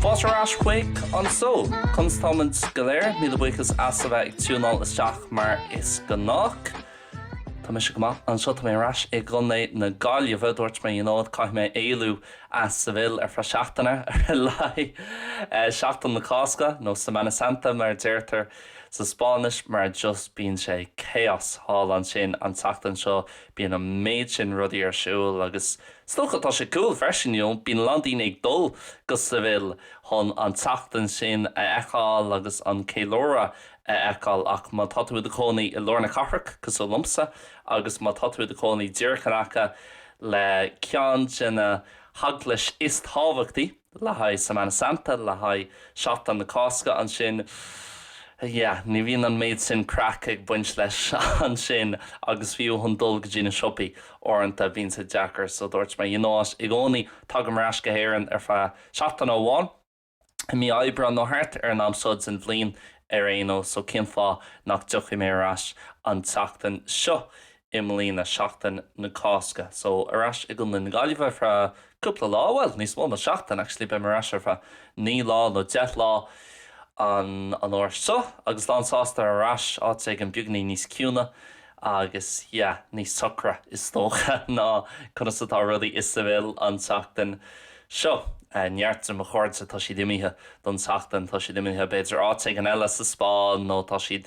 Fáilte ar ais chuig an seó! Conas táimid go léir, míle buíochas as a bheith ag tiúnáil isteach mar is gnách. Tá mise go maith anseo, tá mé ar ais i gContae na Gaillimhe. Dúirt mé i mbliana, caithfidh mé éalú as Seville ar feadh seachtaine ar a laghad, Seachtain na Cásca, nó Semana Santa mar a deirtear Sa Spáinnis, mar just bíonn sé chaos thall ansin an tseachtain seo, bíonn an méid sin rudaí ar siúl agus is dócha tá sé cool freisin, you know, bíonn a lán daoine ag dul go Seville chun an tseachtain sin a fheiceáil agus an ceiliúradh a fheiceáil ach má tá tú i do chónaí i lár na cathrach, cosúil liomsa, agus má tá tú i do chónaí díreach in aice le ceann de na heaglaisí is tábhachtaí, le haghaidh Semana Santa, le haghaidh Seachtain na Cásca ansin. Yeah, ní bhíonn an méid sin craic ag baint leis ansin agus fiú chun dul go dtí na siopaí uaireanta bíonn sé deacair so dúirt mé, you know what, i gcónaí tagaim ar ais go hÉireann ar feadh seachtain amháin, i mí Aibreán nó thart ar an am seo den bhliain ar aon nós so cén fáth nach dtiocfaidh mé ar ais an tseachtain seo? i mbliana seachtain na Cásca. So ar ais i gContae na Gaillimhe ar feadh cúpla lá, bhuel níos mó ná seachtain actually, beidh mé ar ais ar feadh naoi lá nó deich lá an an uair seo agus lán sásta ar ais áit éigin beagainín níos ciúine agus yeah níos socra is dócha ná conas atá rudaí i Seville an tseachtain seo. Neart de mo chairde tá siad imithe don tseachtain, tá siad imithe b'fhéidir áit éigin eile sa Spáinn nó tá siad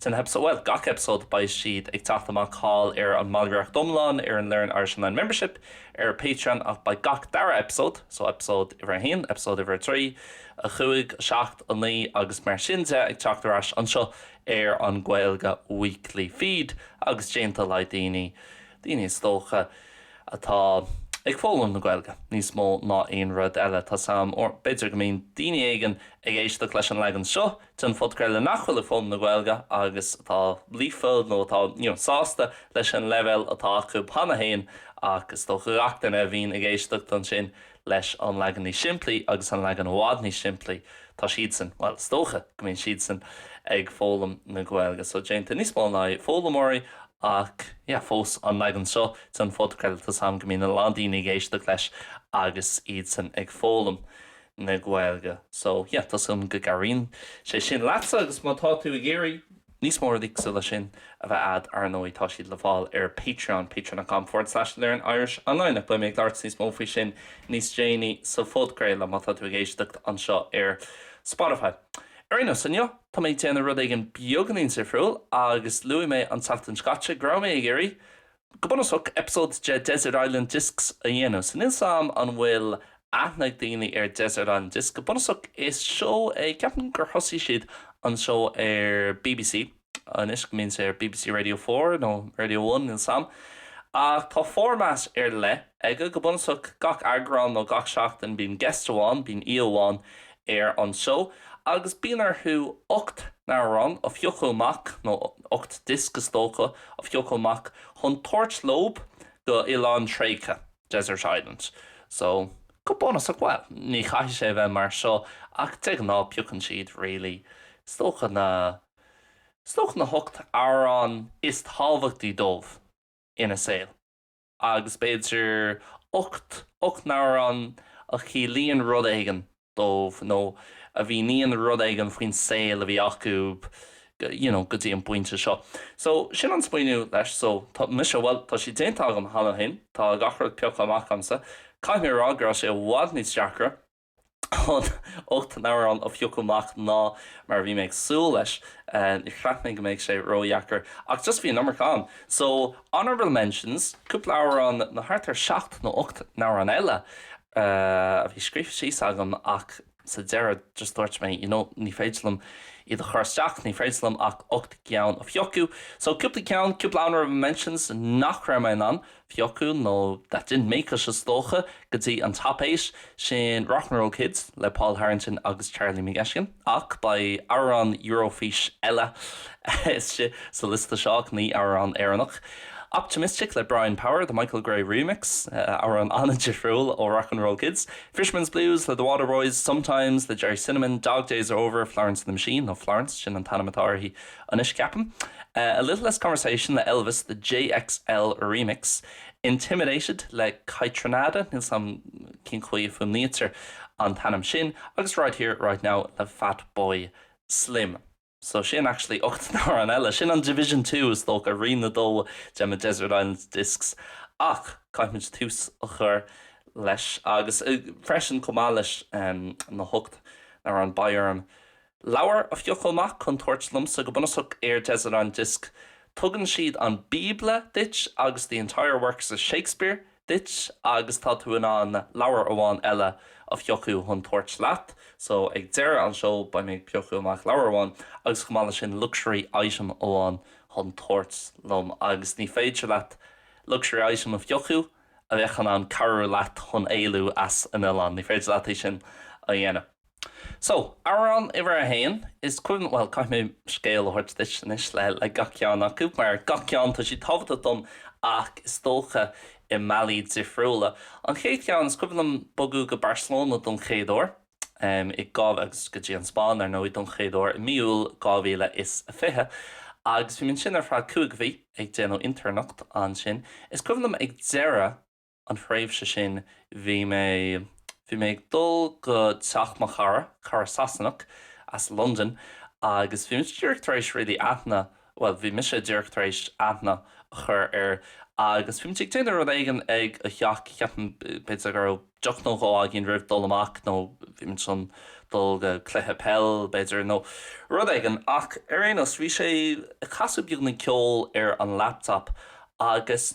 den heipeasóid, bhuel, gach eipeasóid, beidh siad ag teacht amach thall ar an mballraíocht iomlán ar an Learn Irish Online Membership ar Patreon ach beidh gach dara eipeasóid, so eipeasóid uimhir a haon, eipeasóid uimhir a trí, a cúig, a seacht, a naoi agus mar sin de ag teacht ar ais anseo ar an Gaeilge Weekly feed agus déanta le haghaidh daoine, daoine is dócha atá ag foghlaim na Gaeilge níos mó ná aon rud eile, tá 's 'am, or b'fhéidir go mbíonn daoine éigin ag éisteacht leis an leagan seo. den phodcraoladh nach bhfuil ag foghlaim na Gaeilge agus atá líofa nó atá sásta leis an leibhéal atá acu cheana féin ach is dócha gach duine a bhíonn ag éisteacht ansin leis an leagan níos simplí agus an leagan i bhfad níos simplí tá siadsan, bhuel is dócha go mbíonn siadsan ag foghlaim na Gaeilge so déanta níos mó le haghaidh foghlaimeoirí ach yeah fós an leagan seo den phodcraoladh tá 's 'am go mbíonn a lán daoine ag éisteacht leis agus iadsan ag foghlaim na Gaeilge. So, yeah, tá súil agam go gcabhraíonn sé sin leatsa agus má tá tú ag iarraidh níos mó rudaí cosúil leis sin a bheith a'd, Ar ndóigh tá siad le fáil ar Patreon, patreon.com forward slash learnirishonline ach beidh mé ag labhairt níos mó faoi sin níos déanaí sa phodchraoladh má tá tú ag éisteacht anseo ar Spotify. Ar aon nós, inniu tá mé ag déanamh rud éigin beagáinín difriúil agus luaigh mé an tseachtain seo caite go raibh mé ag iarraidh Go bunúsach, eipeasóid de Desert Island Discs a dhéanamh. So níl 's agam an bhfuil aithne ag daoine ar Desert Island Discs. Go bunúsach, is seó é, ceapaim gur thosaigh siad an seó ar BBC, nó go mbíonn sé ar BBC Radio Four nó Radio One níl 's agam. Ach tá formáid ar leith aige. Go bunúsach, gach eagrán nó gach seachtain bíonn guest amháin, bíonn aoi amháin ar an seó agus bíonn orthu ocht n-amhrán a phiocadh amach, nó ocht disc is dócha, a phiocadh amach chun tabhairt leob go oileán tréigthe, desert island. So, go bunúsach, bhuel, ní chaithfidh sé a bheith mar seo ach de ghnáth piocann siad really is dócha na, is dócha na hocht amhrán is tábhachtaí dóibh ina saol. agus b'fhéidir ocht, ocht n-amhrán a chiallaíonn rud éigin dóibh nó a mhíníonn rud éigin faoin saol a bhí acu you know go dtí an bpointe seo. So sin an smaoineamh leis so tá mise, bhuel tá sé déanta agam cheana féin, tá gach rud pioctha amach agamsa, caithfidh mé a rá go raibh sé i bhfad níos deacra Chun ocht n-amhrán a phiocadh amach ná mar a bhí mé ag súil leis. Ní cheap mé go mbeidh sé ró-dheacair, ach just bhí an iomarca ann. So, honourable mentions, cúpla amhrán nó thart ar seacht nó ocht n-amhrán eile a bhí scríofa síos agam ach sa deireadh just dúirt mé you know ní féidir liom iad a chur isteach, ní féidir liom ach ocht gcinn a phiocadh. So, cúpla ceann, cúpla honourable mentions nach raibh mé in ann Phiocadh nó that didn't make it is dócha, go dtí an top eight, sin Rock 'n' Roll Kids le Paul Harrington agus Charlie McGettigan, ach beidh amhrán Eurofís eile istigh sa liosta seo ach ní amhrán Éireannach. Optimistic le Brian Power, the Michael Gray remix, amhrán an-difriúil ó Rock 'n' Roll Kids, Fisherman's Blues le The Waterboys, Sometimes le Gerry Cinnamon, Dog Days Are Over, Florence and the Machine, nó Florence, sin an t-ainm atá uirthi, Anois ceapaim. A Little Less Conversation le Elvis, The JXL Remix, Intimidated le Kaytranada, níl 's agam cén chaoi a fuaimnítear an t-ainm sin, agus Right Here, Right Now le Fatboy Slim. So sin actually ocht n-amhrán eile. Sin an Division Two is dócha, Roinn a Dó de mo Desert Island Discs. Ach caithfidh muid tús a chur leis agus freisin chomh maith leis na hocht n-amhrán beidh orm Leabhar a phiocadh amach chun tabhairt liomsa go bunúsach ar Desert Island Disc. Tugann siad an Bíobla duit agus The Entire Works of Shakespeare duit agus tá tú in ann leabhar amháin eile a phiocadh chun tabhairt leat. So ag deireadh an seó beidh mé ag piocadh amach leabhar amháin agus chomh maith le sin luxury item amháin chun tabhairt liom agus ní féidir leat luxury item a phiocadh a bheadh in ann cabhrú leat chun éalú as an oileán. Ní féidir leat é sin a dhéanamh. So, amhrán uimhir a haon, is cuimhin, bhuel, caithfidh mé scéal a thabhairt duit anois le gach ceann acu, mar gach ceann, tá siad tábhachtach dom ach is dócha i mbealaí difriúla. An chéad cheann, is cuimhin liom bogadh go Barcelona don chéad uair, em, i dhá, agus go dtí an Spáinn, ar ndóigh, don chéad uair i mí Iúil 2020, agus bhí mé ansin ar feadh cúig mhí ag déanamh intéirneacht ansin. Is cuimhin liom ag deireadh. an thréimhse sin bhí mé, bhí mé ag dul go teach mo chara, cara Sasanach as Londain agus bhí muid díreach tar éis really aithne, bhuel bhí mise díreach tar éis aithne a chur air agus bhí muid ag déanamh rud éigin ag a theach, ceapaim, b'fhéidir go raibh deoch nó dhó againn roimh dul amach nó bhí muid chun dul go cluiche peil b'fhéidir nó rud éigin ach ar aon nós bhí sé ag casadh beagáinín ceoil ar an laptop agus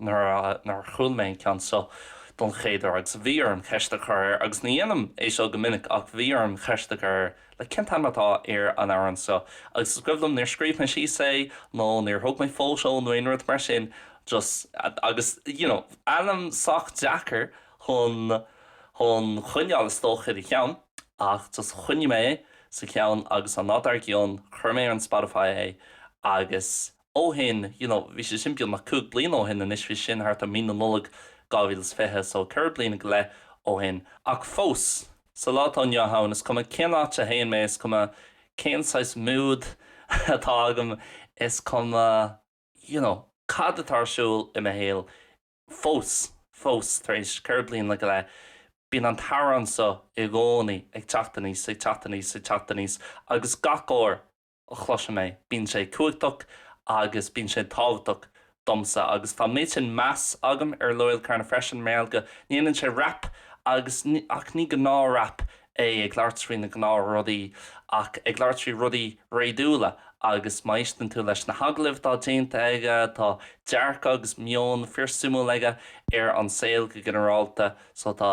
nuair a chuala mé an ceann seo don chéad uair agus bhí orm ceist a chur air agus ní dhéanaim é seo go minic ach bhí orm ceist a chur air like cén t-ainm atá ar an amhrán seo agus is cuimhin liom níor scríobh mé síos é nó níor thug mé photo nó aon rud mar sin just agus you know ainm sách deacair chun chun coinneáil is dócha i do cheann ach just choinnigh mé é sa cheann agus an lá dár gcionn chuir mé ar an Spotify é agus ó shin, you know bhí sé sin beagnach cúig bliana ó shin anois, bhí sé sin thart ar mí na Nollag 2020, so ceithre bliana go leith ó shin, ach fós, sa lá atá inniu ann, is cuma cén áit a théann mé, is cuma cén saghas mood atá agam, is cuma you know cad atá ar siúl i mo shaol, fós, fós tar éis ceithre bliana go leith, bíonn an t-amhrán seo i gcónaí ag teacht aníos, ag teacht aníos, ag teacht aníos agus gach uair, chloisim é, bíonn sé cumhachtach agus bíonn sé tábhachtach domsa agus tá an méid sin meas agam ar Loyle Carner freisin mar gheall go ndéanann sé rap agus ach ní gnáth rap é ag labhairt faoi na gnáth rudaí ach ag labhairt faoi rudaí réadúla agus má éisteann tú leis na hagallaimh atá déanta aige tá dearcadh agus meon fíor suimiúil aige ar an saol go ginearálta so tá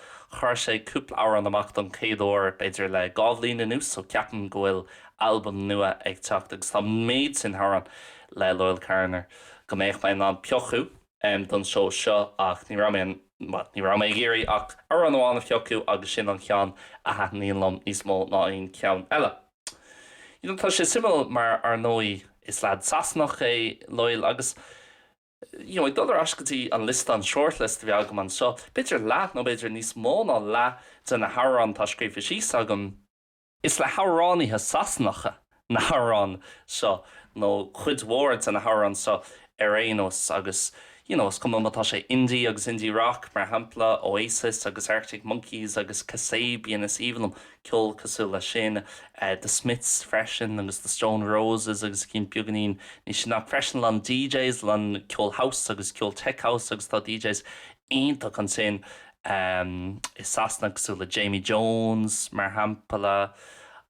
Chuir sé cúpla amhrán amach don chéad uair, b'fhéidir le dhá bhliain anuas, so ceapaim go bhfuil albam nua ag teacht agus tá an méid sin amhrán le Loyle Carner go mbeadh mé in ann piocadh don seó seo ach ní raibh mé in ann, ní raibh mé ag iarraidh ach amhrán amháin a phiocadh agus sin an ceann a thaitníonn liom níos mó ná aon cheann eile. You know, tá sé suimiúil mar ar ndóigh is leaid Sasanach é Loyle agus you know, ag dul ar ais go dtí an liosta, an shortlist a bhí agam anseo, b'fhéidir leath nó b'fhéidir níos mó ná leath de na hamhráin atá scríofa síos agam, is le hamhránaithe Sasanacha na hamhráin seo, nó cuid mhór de na hamhráin seo ar aon nós, agus you know, is cuma má tá sé indie agus indie-rock, mar shampla, Oasis agus Arctic Monkeys agus Kasabian, is aoibhinn liom. ceol cosúil leis sin, The Smiths freisin agus The Stone Roses agus cinn beagáinín níos sine, ach freisin a lán DJs, a lán ceol house agus ceol tech house agus tá DJs iontach ansin i Sasana cosúil le Jamie Jones mar shampla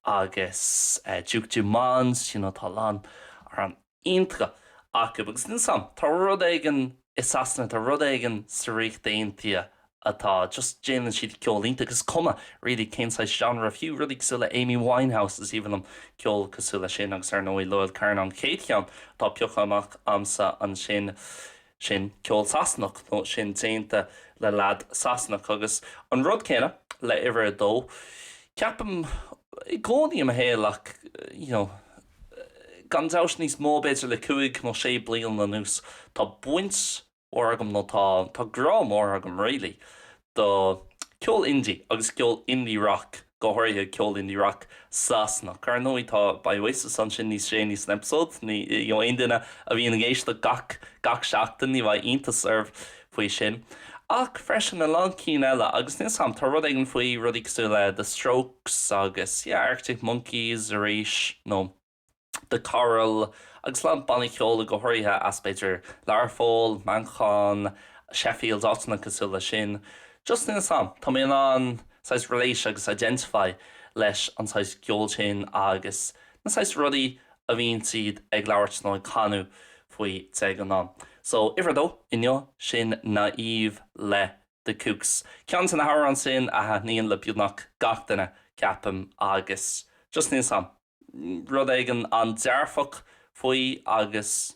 agus Duke Dumont, you know tá a lán. iontach acu agus níl 's a'm, tá rud éigin i Sasana, tá rud éigin sa Ríocht Aontaithe atá just, déanann siad ceol iontach, is cuma really cén saghas genre, fiú rudaí cosúil le Amy Winehouse, is aoibhinn liom ceol cosúil leis sin agus ar ndóigh Loyle Carner an chéad cheann atá pioctha amach a'msa ansin, sin ceol Sasanach nó sin déanta le leaid Sasanach agus an rud céanna le uimhir a dó, ceapaim, i gcónaí i mo shaol ach you know, gan dabht, níos mó b'fhéidir le cúig nó sé bliain anuas. Tá baint mhór agam, nó tá grá mór agam really, do ceol indie agus ceol indie-rock, go háirithe ceol indie-rock Sasanach. Ar ndóigh tá, beidh Oasis ansin níos déanaí san eipeasóid, ní, you know, aon duine a bhíonn ag éisteacht gach, gach seachtain ní bheidh iontas oraibh. faoi sin, ach freisin a lán cinn eile agus níl 's a'm, tá rud éigin faoi rudaí cosúil le The Strokes agus yeah, Arctic Monkeys arís nó The Coral agus a lán bannaí ceoil go háirithe as b'fhéidir Learpholl, Manchain, Sheffield, áiteanna cosúil le sin. Just níl 's a'm, tá mé in ann saghas relate agus identify leis an saghas ceol sin agus na saghas rudaí a a bhíonn siad ag labhairt nó ag canadh faoi de ghnáth. So, uimhir a dó inniu, sin Naïve le The Kooks. Ceann de na hamhráin sin a thaitníonn le beagnach gach duine, ceapaim, agus just níl 's a'm, rud éigin an-dearfach faoi agus.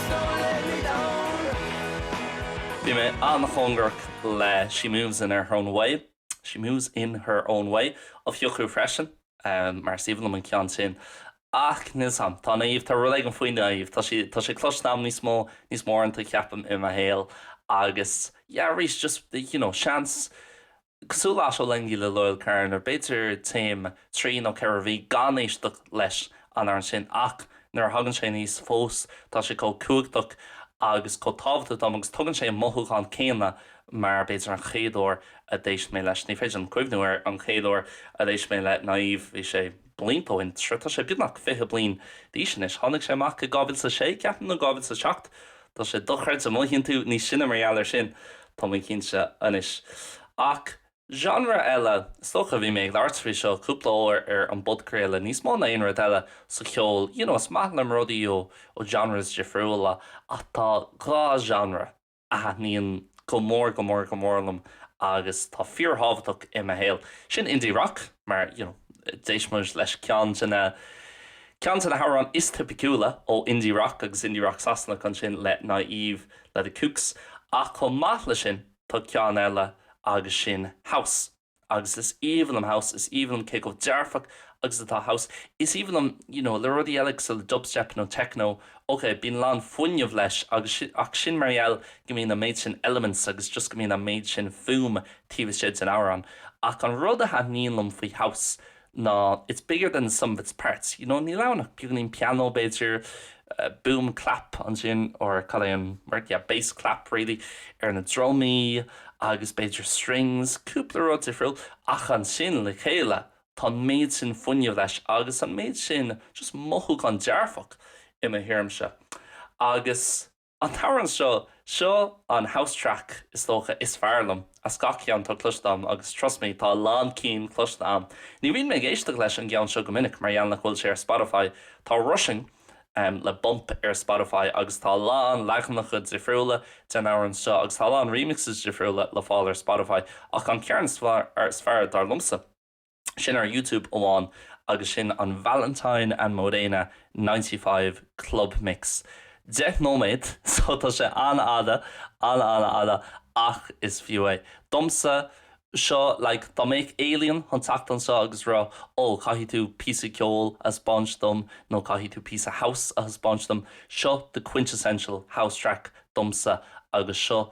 Bhí mé an-chóngarach le She Moves in Her Own Way, She Moves in Her Own Way, a phiocadh freisin, mar is aoibhinn liom an ceann sin, ach níl 's a'm, tá Naïve, tá rud éigin faoi Naïve, tá sé, tá sé cloiste a'm níos mó, níos mó uaireanta, ceapaim, i mo shaol, agus yeah, arís, just, you know, seans, Cosúil leis Ottolenghi le Loyle Carner, b'fhéidir téim trí nó ceithre mhí gan éisteacht leis an amhrán sin ach nuair a thagann sé aníos fós tá sé chomh cumhachtach agus chomh tábhachtach dom agus tugann sé an mothúchán céanna mar b'fhéidir an chéad uair a d'éist mé leis. Ní féidir liom cuimhniú ar an chéad uair a d'éist mé le Naive, bhí sé. blianta ó shin, tá sé beagnach fiche bliain d'aois anois, tháinig sé amach i 2006, ceapaim, nó 2007, tá sé dochreidte, mothaíonn tú níos sine mar gheall ar sin, tá mé cinnte anois. Ach genre eile, is dócha, bhí mé ag labhairt faoi seo cúpla uair ar an bpodchraoladh, níos mó ná aon rud eile sa cheol, you know is maith liom rudaí ó genres difriúla, ach tá dhá genre, a thaitníonn go mór go mór go mór liom agus tá fíorthábhachtach i mo shaol. Sin indie rock mar you know d'éist muid leis ceann de na ceann de na hamhráin is tipiciúla ó indie rock agus indie rock Sasanach ansin le Naive le The Kooks ach chomh maith le sin tá ceann eile agus sin house. agus is aoibhinn liom house, is aoibhinn liom cé chomh dearfach agus atá house, is aoibhinn liom you know le rudaí eile cosúil le dubstep nó techno, ok bíonn a lán fuinneamh leis agus sin ach sin mar gheall go mbíonn an méid sin elements agus just go mbíonn an méid sin fuaim taobh istigh den amhrán ach an rud a thaitníonn liom faoi house ná it's bigger than the sum of its parts, you know, níl ann ach beagáinín pianó, b'fhéidir, boom, clap ansin or cad é an word, yeah, bass clap really ar na drumaí agus b'fhéidir strings, cúpla rud difriúil ach ansin le chéile tá an méid sin fuinnimh leis agus an méid sin just mothúchán dearfach i mo thuairimse agus. An t-amhrán seo, seo an house track is dócha is fearr liom as gach ceann atá cloiste a'm agus trust me tá a lán cinn cloiste a'm. Ní bhíonn mé ag éisteacht leis an gceann seo go minic mar gheall nach bhfuil sé ar Spotify. Tá Rushing le Bump ar Spotify agus tá a lán leaganacha difriúla den amhrán seo agus tá a lán remixes difriúla le fáil ar Spotify ach an ceann is fearr dar liomsa, sin ar Youtube amháin agus sin an Valentine and Morena Ninety Five Club Mix. Deich nóiméad so tá sé an-fhada, an-an-fhada ach is fiú é. Domsa, seo like dá mbeadh alien chun teacht anseo agus rá oh caithfidh tú píosa ceoil a thaispeáint dom nó caithfidh tú píosa house a thaispeáint dom, seo the quintessential house track domsa agus seo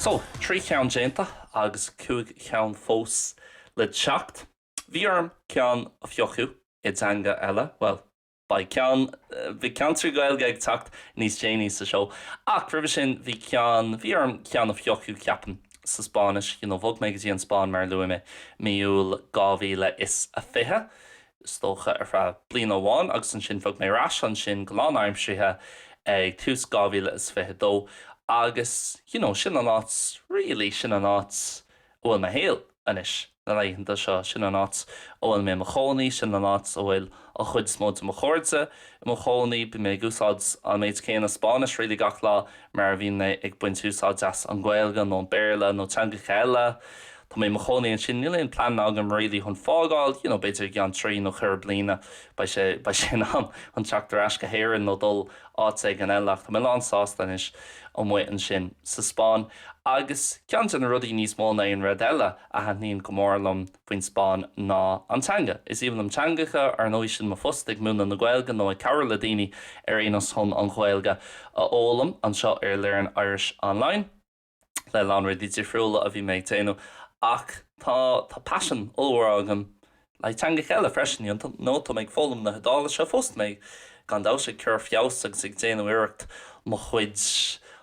So, trí cheann déanta agus cúig cheann fós le teacht. Bhí orm ceann a phiocadh i dteanga eile, bhuel, Bhuel, bhí ceann trí Ghaeilge ag teacht níos déanaí sa seó. Ach roimhe sin bhí ceann, bhí orm ceann a phiocadh, ceapaim, sa Spáinnis, you know, bhog mé go dtí an Spáinn mar a luaigh mé, mí Iúil 2020, is dócha, ar feadh bliana amháin agus ansin bhog mé ar ais ansin go lánaimsirithe ag tús 2022 agus, you know, sin an áit, really, sin an áit a bhfuil mo shaol anois. na laethanta seo. Sin an áit a bhfuil mé i mo chónaí, sin an áit a bhfuil an chuid is mó de mo chairde i mo chónaí. Bím ag úsáid an méid céanna Spáinnis really gach lá mar a bhím ag baint úsáid as an Ghaeilge nó an Béarla nó teangacha eile. Tá mé i mo chónaí ansin. Níl aon plean agam really chun fágáil, you know, b'fhéidir i gceann trí nó ceithre bliana beidh sé, beidh sé in am chun teacht ar ais go hÉirinn nó dul áit éigin eile ach tá mé lán sásta anois amuigh ansin sa Spáinn agus ceann de na rudaí níos mó ná aon rud eile a thaitníonn go mór liom faoin Spáinn ná an teanga. Is aoibhinn liom teangacha, ar ndóigh, sin mo phost, ag múineadh na Gaeilge nó ag cabhrú le daoine ar aon nós chun an Ghaeilge a fhoghlaim. Anseo ar Learn Irish Online, le lán rudaí difriúla a bhí mé ag déanamh, ach tá paisean ollmhór agam le teangacha eile freisin, you know, tá mé ag foghlaim na hIodáilise fós, tá mé gan dabhtas ag cur feabhas agus ag déanamh iarracht mo chuid,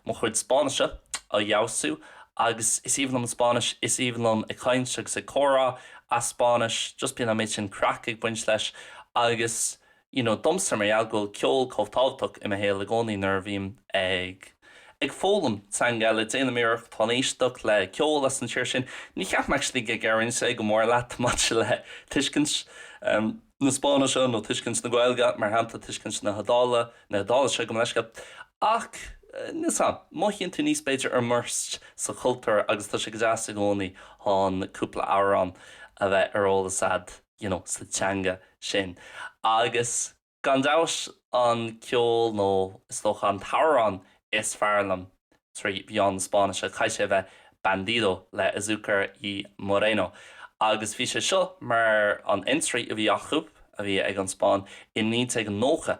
mo chuid Spáinnise a fheabhsú agus is aoibhinn liom Spáinnis, is aoibhinn liom ag caint agus ag comhrá as Spáinnis, just bíonn an méid sin craic ag baint leis agus. you know domsa mar gheall go bhfuil ceol chomh tábhachtach i mo shaol i gcónaí nuair a bhím ag ag foghlaim teanga eile déanaim iarracht chun éisteacht le ceol as an tír sin ní cheapaim actually go gcabhraíonn sé go mór leat maidir le tuiscint ehm na Spáinnise nó tuiscint na Gaeilge mar shampla tuiscint na hIodáile na hIodáilise gabh mo leithscéal ach níl sa mothaíonn tú níos b'fhéidir immersed sa chultúr agus tá sé go deas i gcónaí chun cúpla amhrán a bheith ar eolas a'd. you know, sa teanga sin. Agus gan dabhtas an ceol nó is dócha an t-amhrán is fearr liom trí mheán na Spáinnise, caithfidh sé a bheith Bandido le Azucar y Moreno. Agus bhí sé seo mar an entry a bhí acu, a bhí ag an Spáinn, i 1990.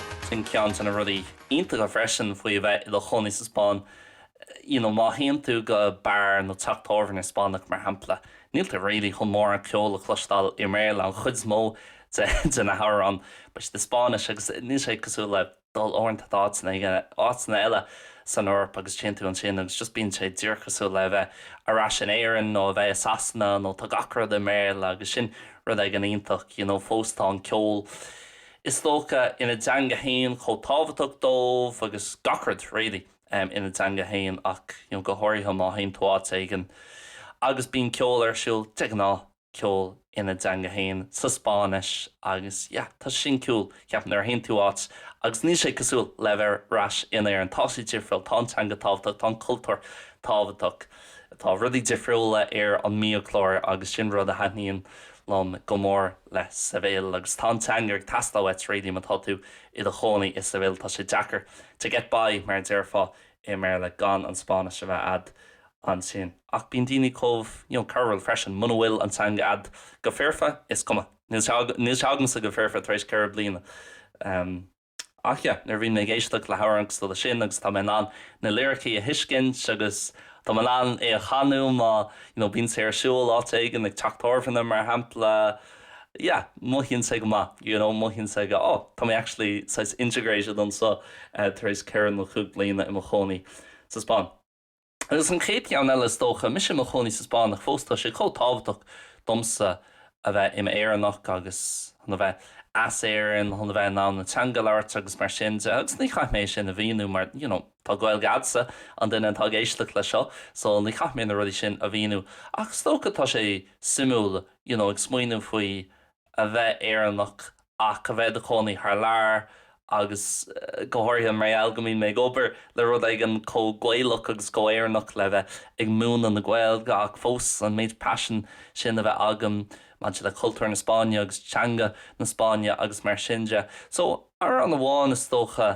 Sin ceann de na rudaí iontacha freisin faoi a bheith i do chónaí sa Spáinn, you know, má théann tú go beár nó teach tábhairne Spáinneach mar shampla, níl tú really chun mórán ceoil a chloisteáil i mBéarla, an chuid is mó de na hamhráin beidh siad i Spáinnis agus níl sé cosúil le dul uaireanta d'áiteanna, you know, áiteanna eile san Eoraip agus téann tú ansin agus just bíonn sé díreach cosúil le a bheith ar ais in Éirinn nó a bheith i Sasana nó tá gach rud i mBéarla agus sin rud éigin iontach, you know, fós tá an ceol. is dócha, ina dteanga fhéin chomh tábhachtach dóibh agus gach rud really ina dteanga fhéin ach go háirithe má théann tú áit éigin agus bíonn ceol ar siúl de ghnáth ceol ina dteanga fhéin sa Spáinnis agus yeah tá sé sin cool ceapaim nuair a théann tú áit agus níl sé cosúil le bheith ar ais in Éirinn tá sé difriúil tá an teanga tábhachtach tá an cultúr tábhachtach tá rudaí difriúla ar an mbiachlár agus sin rud a thaitníonn liom go mór le Seville agus tá an teanga ag teastáil uait really má tá tú i do chónaí i Seville tá sé deacair to get by mar a déarfá i mBéarla gan an Spáinnis a bheith a'd ansin ach bíonn daoine chomh you know cabhrúil freisin muna bhfuil an teanga a'd go foirfe is cuma níl sé agamsa go foirfe tar éis ceithre bliana ehm Ach yeah, nuair a bhíonn mé ag éisteacht le hamhrán cosúil le sin agus tá mé in ann na liricí a thuiscint agus tá mé in ann é a chanadh má you know bíonn sé ar siúl áit éigin, ag teach tábhairne mar shampla, yeah, mothaíonn sé go maith, you know mothaíonn sé go oh, tá mé actually saghas integrated anseo tar éis ceithre nó cúig bliana i mo chónaí sa Spáinn. Agus an chéad cheann eile is dócha. Mise i mo chónaí sa Spáinn ach fós tá sé chomh tábhachtach domsa a bheith im' Éireannach agus chun a bheith as Éirinn, chun a bheith in ann an teanga a labhairt agus mar sin de agus ní chaithfidh mé é sin a mhíniú mar, you know, tá Gaeilge a'dsa, an duine atá ag éisteacht leis seo, so ní chaithfidh mé na rudaí sin a mhíniú. Ach is dócha tá sé suimiúil, you know, ag smaoineamh faoi a bheith Éireannach ach a bheith i do chónaí thar lear agus go háirithe mar gheall go mbíonn mé ag obair le rud éigin chomh Gaelach agus chomh Éireannach le bheith ag múineadh na Gaeilge ach fós an méid paisin sin a bheith agam maidir le cultúr na Spáinne agus teanga na Spáinne agus mar sin de. So, amhrán amháin is dócha.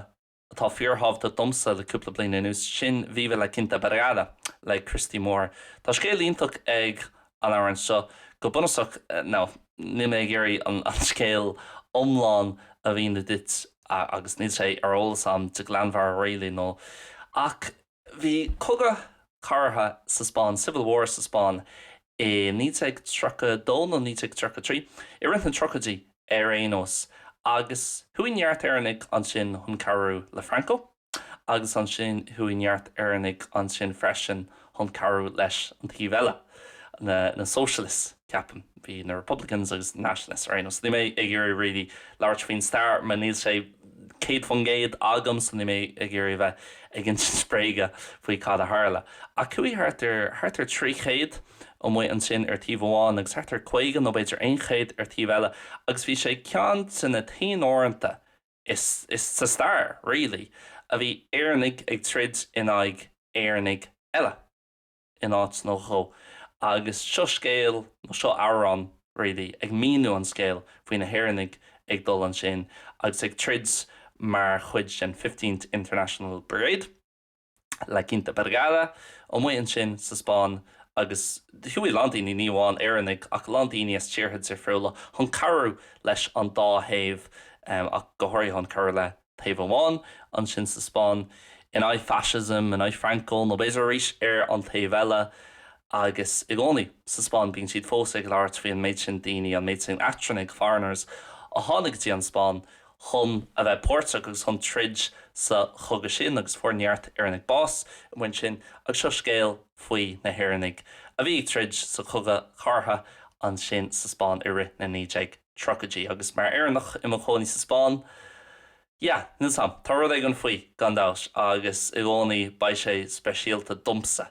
atá fíor-thábhachtach domsa le cúpla bliain anuas, sin Viva La Quinta Brigada le Christy Moore. Tá scéal iontach ag an amhrán seo, go bunúsach, nó níl mé ag iarraidh an scéal iomlán a mhíniú duit agus níl sé ar eolas agam de ghlanmheabhair really nó. Ach. Bhí cogadh cathartha sa Spáinn, Civil War, sa Spáinn i 1932 nó 1933, i rith na tríochaidí ar aon nós, agus chuaigh neart Éireannaigh ansin chun cabhrú le Franco agus ansin chuaigh neart Éireannaigh ansin freisin chun cabhrú leis an taobh eile, na Socialists. ceapaim. Bhí na Republicans agus na Nationalists ar aon nós. Níl mé ag iarraidh really labhairt faoin stair mar níl sé céad faoin gcéad agam so níl mé ag iarraidh a bheith ag insint bréaga faoi cad a tharla. Ach chuaigh thart ar thart ar trí chéad amuigh ansin ar taobh amháin agus thart ar caoga nó b'fhéidir aon chéad ar taobh eile agus bhí sé ceann de na t-aon uaireanta sa stair really a bhí Éireannaigh ag troid in aghaidh Éireannaigh eile. in áit nó dhó agus seo scéal, nó seo amhrán really, ag míniú an scéil faoi na hÉireannaigh ag dul ansin agus ag troid mar chuid den Fifteenth International Brigade, La Quinta Brigada, amuigh ansin sa Spáinn agus chuaigh a lán daoine, ní amháin Éireannaigh ach a lán daoine as tíortha difriúla chun cabhrú leis an dá thaobh ach go háirithe chun cabhrú le. taobh amháin, ansin sa Spáinn, in aghaidh fascism, in aghaidh Franco, nó b'fhéidir arís ar an taobh eile, agus i gcónaí sa Spáinn, bíonn siad fós ag labhairt faoi an méid sin daoine, an méid sin eachtrannaigh, foreigners, a tháinig go dtí an Spáinn chun a bheith páirteach agus chun troid sa chogadh sin agus fuair neart Éireannaigh bás amuigh ansin agus seo scéal faoi na hÉireannaigh a bhí ag troid sa chogadh cathartha ansin sa Spáinn i rith na naoi déag. tríochaidí agus mar Éireannach i mo chónaí sa Spáinn, yeah, níl 's 'am, tá rud éigin faoi, gan dabht, agus i gcónaí beidh sé speisialta domsa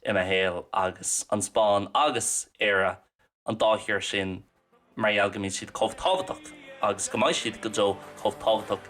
i mo shaol agus an Spáinn agus Éire, an dá thír sin, mar gheall go mbíonn siad chomh tábhachtach agus go mbeidh siad go deo chomh tábhachtach.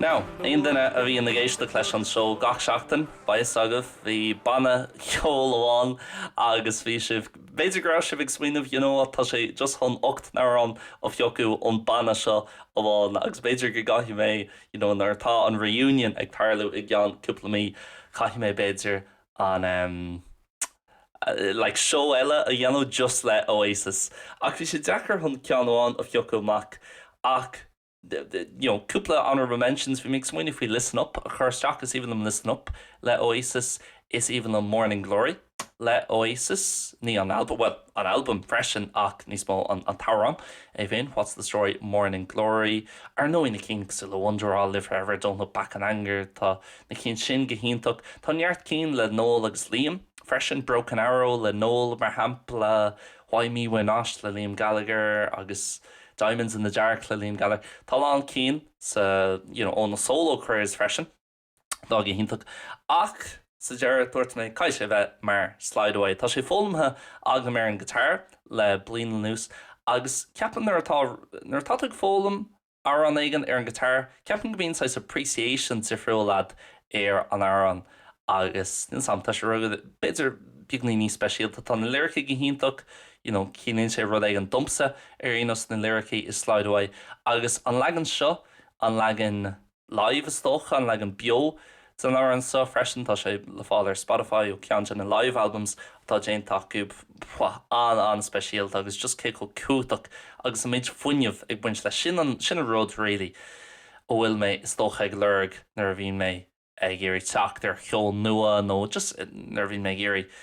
Now, aon duine a bhíonn ag éisteacht leis an seó gach seachtain, beidh fhios agaibh, bhí banna ceoil amháin agus bhí sibh, b'fhéidir go raibh sibh ag smaoineamh, you know what, tá sé just chun ocht n-amhrán a phiocadh ón banna seo amháin agus b'fhéidir go gcaithfidh mé you know nuair atá an reunion ag tarlú i gceann cúpla mí caithfidh mé b'fhéidir an em like seó eile a dhéanamh just le Oasis ach bhí sé deacair chun ceann amháin a phiocadh amach ach you know cúpla honourable mentions bhí mé ag smaoineamh faoi Listen Up a chur isteach is aoibhinn liom Listen Up le Oasis is aoibhinn liom Morning Glory le Oasis, ní an albam, bhuel, an albam freisin ach níos mó an t-amhrán é féin, What's the Story, Morning Glory, ar ndóigh na cinn cosúil le Wonderwall, Live Forever, Don't Look Back in Anger, tá na cinn sin go hiontach. Tá neart cinn le Noel agus Liam freisin, Broken Arrow le Noel mar shampla, Why Me Why Not le Liam Gallagher agus Diamonds in the Dark le Liam Gallagher. Tá a lán cinn sa, you know, ó na solo careers freisin. tá go hiontach ach sa deireadh dúirt mé caithfidh sé a bheith mar Slide Away. Tá sé foghlamtha agam ar an guitar le bliain anuas agus ceapaim nuair atá nuair atá tú ag foghlaim amhrán éigin ar an guitar ceapann go mbíonn saghas appreciation difriúil agat ar an amhrán agus níl 's am tá sé rugadh b'fhéidir beagáinín níos speisialta. Tá na liricí go hiontach you know ciallaíonn sé rud éigin domsa ar aon nós na liricí i Slide Away agus an leagan seo an leagan live is dócha, an leagan beo den amhrán seo freisin. Tá sé le fáil ar Spotify ó ceann de na live albums atá déanta acu. An-an-speisialta agus just cé chomh cumhachtach agus an méid fuinneamh ag baint leis sin, sin an rud really a bhfuil mé is dócha ag lorg nuair a bhíonn mé ag iarraidh teacht ar cheol nua nó just nuair a bhíonn mé ag iarraidh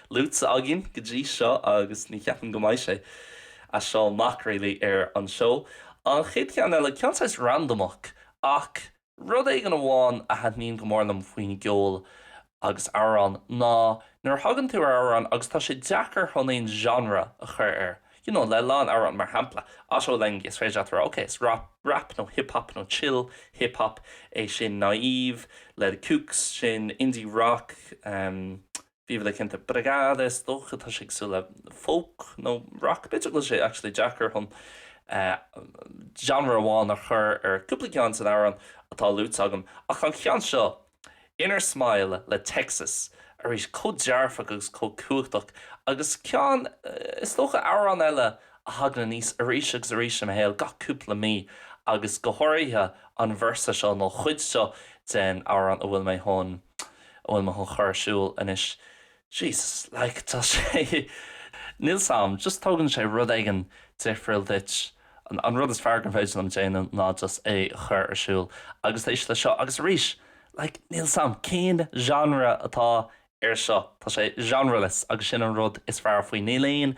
luaite againn go dtí seo agus ní cheapaim go mbeidh sé as seo amach, really, ar an seó. An chéad cheann eile, ceann saghas randamach, ach rud éigin amháin a thaitníonn go mór liom faoin gceol agus amhráin ná nuair a thagann tú ar amhrán agus tá sé deacair chun aon genre a chur air, you know, le a lán amhráin, mar shampla, Otto Lengi, is féidir leat a rá, ok, is rap nó hip hop nó chill hip hop é sin, Naive le The Kooks, sin indie rock, em. Viva la Cinnte. Brigada is dócha tá sé ag cosúil le folk nó rock b'fhéidir. Tá sé actually deacair chun genre amháin a chur ar cúpla ceann de na hamhráin atá luaite agam. Ach an ceann seo, Inner Smile le Texas, arís chomh dearfach agus chomh cumhachtach agus ceann, is dócha, amhrán eile a thagann aníos arís agus arís i mo shaol gach cúpla mí agus go háirithe an verse seo nó an chuid seo den amhrán a bhfuil mé A bhfuil mé chun a chur ar siúl anois? Jesus, like, tá sé, níl 's am, just tógann sé rud éigin difriúil duit, an rud is fearr gur féidir liom déanamh ná just é a chur ar siúl agus éist leis seo agus arís, like, níl 's am cén genre atá ar seo, tá sé genreless agus sin an rud is fearr faoi, níl aon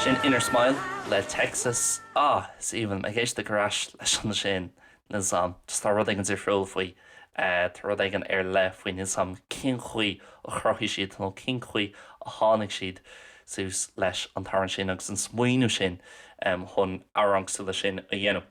Sin Inner Smile le Texas. Ah, is aoibhinn liom ag éisteacht ar ais leis ansin níl 's am. Just tá rud éigin difriúil faoi. Tá rud éigin ar leith faoi níl 's am. Cén chaoi a chruthaigh siad nó cén chaoi a tháinig siad suas leis an t-amhrán sin agus an smaoineamh sin chun amhrán cosúil leis sin a dhéanamh?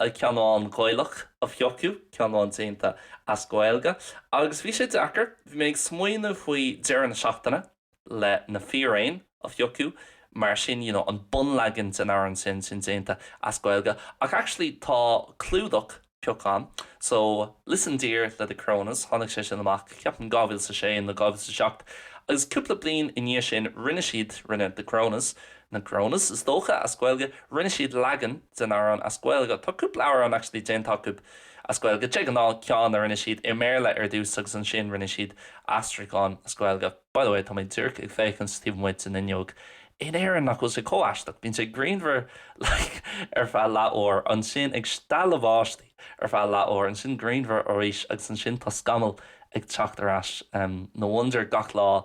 ceann amháin Gaelach a phiocadh, ceann amháin déanta as Gaeilge, agus bhí sé deacair. Bhí mé ag smaoineamh faoi deireadh na seachtaine le Na Fíréin a phiocadh mar sin, you know, an bunleagan den amhrán sin, sin déanta as Gaeilge, ach actually tá clúdach pioctha agam, so Listen Dear le The Coronas, tháinig sé sin amach, ceapaim, dhá mhíle 's a sé nó dhá mhíle 's a seacht, agus cúpla bliain i ndiaidh sin rinne siad, rinne The Coronas, na Coronas is dócha, as Gaeilge, Rinne siad leagan den amhrán as Gaeilge. Tá cúpla amhrán actually déanta acu as Gaeilge. De ghnáth ceann a rinne siad i mBéarla ar dtús agus ansin rinne siad aistriúchán as Gaeilge. By the way, tá mé díreach ag féachaint taobh amuigh den fhuinneog in Éirinn, nach bhfuil sé chomh aisteach? Bíonn sé grianmhar like ar feadh leath uair, ansin ag stealladh báistí ar feadh leath uair, ansin grianmhar arís agus ansin tá scamaill ag teacht ar ais. No wonder gach lá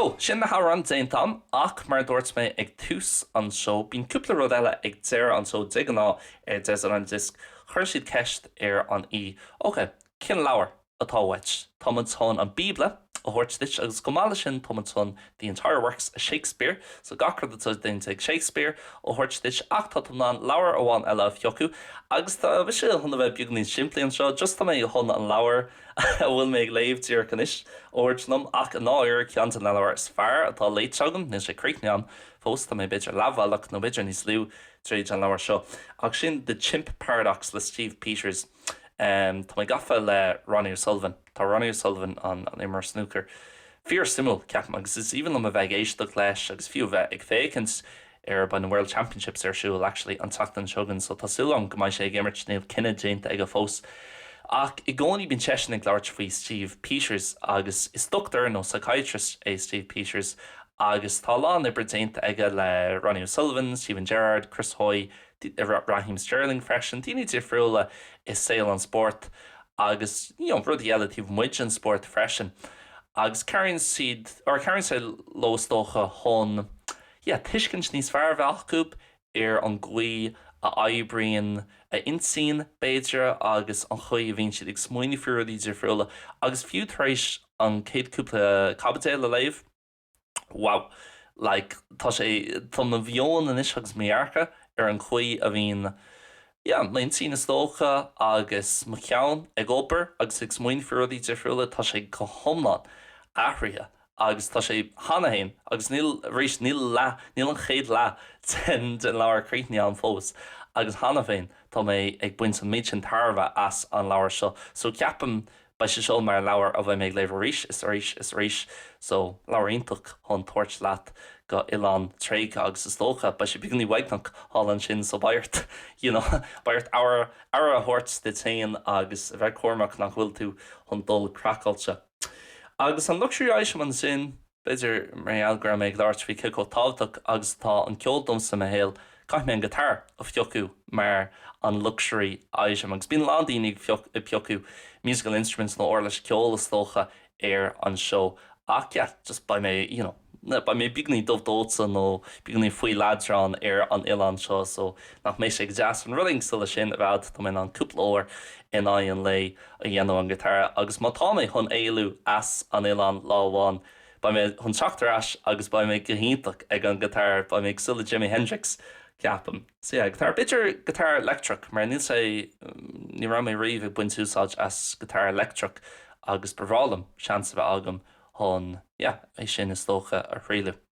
So, sin na hamhráin déanta a'm, ach mar a dúirt mé ag tús an seó, bíonn cúpla rud eile ag deireadh an seó de ghnáth ar Desert Island Discs, chuir siad ceist ar an aoi, ok, cén leabhar? atá uait. Tá muid chun an Bíobla a thabhairt duit agus chomh maith leis sin tá muid chun The Entire Works of Shakespeare, so gach rud atá déanta ag Shakespeare, a thabhairt duit ach tá tú in ann leabhar amháin eile a phiocadh agus tá mise chun a bheith beagáinín simplí anseo, just tá mé chun an leabhar a bhfuil mé ag léamh díreach anois a thabhairt liom ach i ndáiríre ceann de na leabhair is fearr atá léite agam, níl sé críochnaithe agam fós, tá mé b'fhéidir leathbhealach nó b'fhéidir níos lú tríd an leabhar seo ach sin The Chimp Paradox le Steve Peters. Tá mé gafa le Ronnie O'Sullivan. Tá Ronnie O'Sullivan, an imreoir snúcair, fíor suimiúil, ceapaim, agus is aoibhinn liom a bheith ag éisteacht leis agus fiú a bheith ag féachaint air. Beidh na World Championships ar siúl, actually, an tseachtain seo chugainn so tá súil agam go mbeidh sé ag imirt, níl cinneadh déanta aige fós. Ach i gcónaí bíonn seisean ag labhairt faoi Steve Peters agus is doctor nó psychiatrist é Steve Peters agus tá a lán oibre déanta aige le Ronnie O'Sullivan, Steven Gerrard, Chris Hoy, Raheem Sterling freisin, daoine difriúla i saol an spóirt agus you know rudaí eile taobh amuigh den spórt freisin agus cabhraíonn siad or cabhraíonn sé leo is dócha chun yeah tuiscint níos fearr a bheith acu ar an gcaoi a oibríonn a n-intinn b'fhéidir agus an chaoi a bhíonn siad ag smaoineamh faoi rudaí difriúla agus fiú tar éis an chéad cúpla caibidil a léamh wow like tá sé tá mo mheon anois agus mo dhearcadh ar an chaoi a bhíonn yeah m'intinn is dócha agus mo cheann ag obair agus ag smaoineamh faoi rudaí difriúla tá sé go hiomlán athraithe agus tá sé cheana féin agus níl arís níl leath níl an chéad leath den den leabhar críochnaithe a'm fós agus cheana féin tá mé ag baint an méid sin tairbhe as an leabhar seo so ceapaim Beidh sé seo mar an leabhar a bheidh mé ag léamh arís is arís is arís so leabhar iontach chun tabhairt leat go oileán tréigthe agus is dócha beidh sé beagáinín uaigneach thall ansin so beidh ort you know beidh ort aire aire a thabhairt duit féin agus a bheith cúramach nach bhfuil tú chun dul craiceáilte. Agus an luxury item ansin. B'fhéidir mar gheall go raibh mé ag labhairt faoi cé chomh tábhachtach agus atá an ceol domsa i mo shaol, caithfidh mé an guitar a phiocadh mar an luxury item, agus bíonn a lán daoine ag ag piocadh musical instruments nó uirlis ceoil is dócha ar an seó ach yeah, just beidh mé you know beidh mé beagáinín dubh dóite nó beagáinín faoi leadrán ar an oileán seo so nach mbeidh sé go deas an rud éigin mar sin a bheadh dá mbeinn in ann cúpla uair in aghaidh an lae a dhéanamh an giotára agus má tá mé chun éalú as an oileán lá amháin beidh mé chun teacht ar ais agus beidh mé go hiontach ag an giotár, beidh mé cosúil le Jimi Hendrix ceapaim. So yeah, giotár, b'fhéidir giotár leictreach mar níl sé, ní raibh mé riamh ag baint úsáid as giotár leictreach agus ba bhreá liom seans a bheith agam chun yeah, é sin is dócha a thrialladh.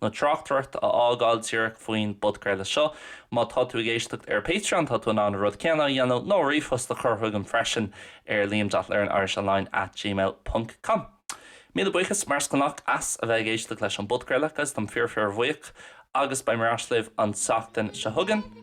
nó tráchtaireacht a fhágáil díreach faoin bpodchraoladh seo. Má tá tú ag éisteacht ar Patreon tá tú in ann an rud céanna a dhéanamh nó ríomhphost a chur chugainn freisin ar liam dot learn Irish online at gmail ponc com. Míle buíochas mar is gnách as a bheith ag éisteacht leis an bpodchraoladh agus táim fíor fíorbhuíoch agus beidh mé ar ais libh an tseachtain seo chugainn.